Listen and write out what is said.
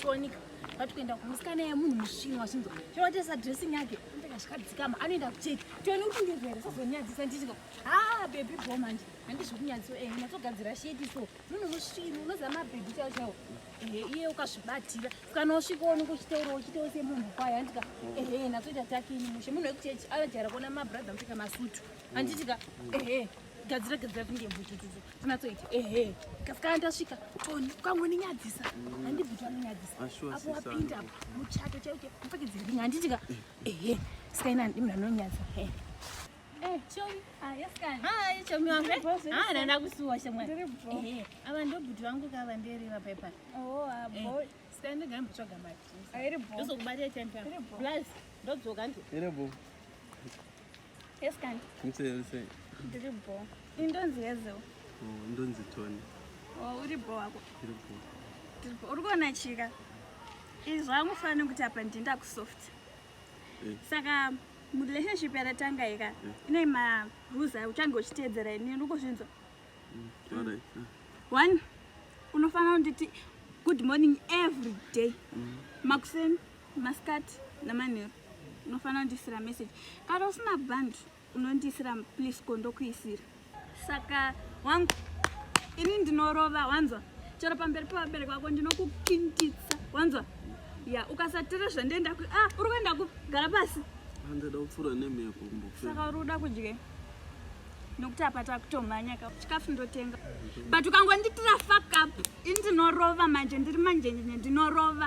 Tonika vati kuenda kumusikana yemunhu musvinu wachinzwa chawatesa dressing yake ndikashikadzikama anoenda kucheki tione kuti ndizvere sazonyadzisa ndichika ha bebi bo manje handizvikunyadzisa e eh, natogadzira sheti so munhu musvinu unoziva mabebi chao chao ehe eh, iye ukazvibatira kana usvika onenge uchitaura uchitaura semunhu kwayo handika ehe eh, natoita takini mushe munhu wekuchechi anojaira kuona mabrother mupfeka masutu handitika ehe gadzira gadzira kunge mbutututu tinatsoiti ehe kasikana tasvika toni ukangoninyadzisa handibviti vanonyadzisa apo wapinda apo muchato chaiuke mupfekedzevinga handiti ka ehe sikaina ndi munhu anonyadzisa he eh, chomi ah, wangu ah, nanda kusuwa shamwari ava ndobhuti vangu kava ndereva paipa oh, ah, eh, sikaindigambotsvaga mari ndozokubatira champion plus ndodzoka ndi Yes, can. Mse, mse. Ndiri bo. Indonzi yezo. Oh, indonzi Tony. Oh, uri bo wako. Ndiri bo. Ndiri bo. Uri kuona chika. Izvo amufanira kuti apa ndinda ku soft. Eh. Saka murelationship yaratanga ika eh. ine ma rules ayo uchange uchiteedzera ini uri kuzvinzwa. Mm, all right. Mm. One unofanira kunditi good morning every day. Mm. Makuseni masikati namanheru unofanira kundiisira message kana usina band unondiisira please ko ndokuisira saka wangu ini ndinorova wanzwa chero pamberi pevabereki vako ndinokukintitsa wanzwa ya ukasatira zvandienda ku ah uri kuenda ku gara pasi andida kupfuura nemhepo saka uri kuda kudye nokuti apa takutomhanya ka chikafu ndotenga but ukangonditira fuck up ini ndinorova manje ndiri manjenjenye ndinorova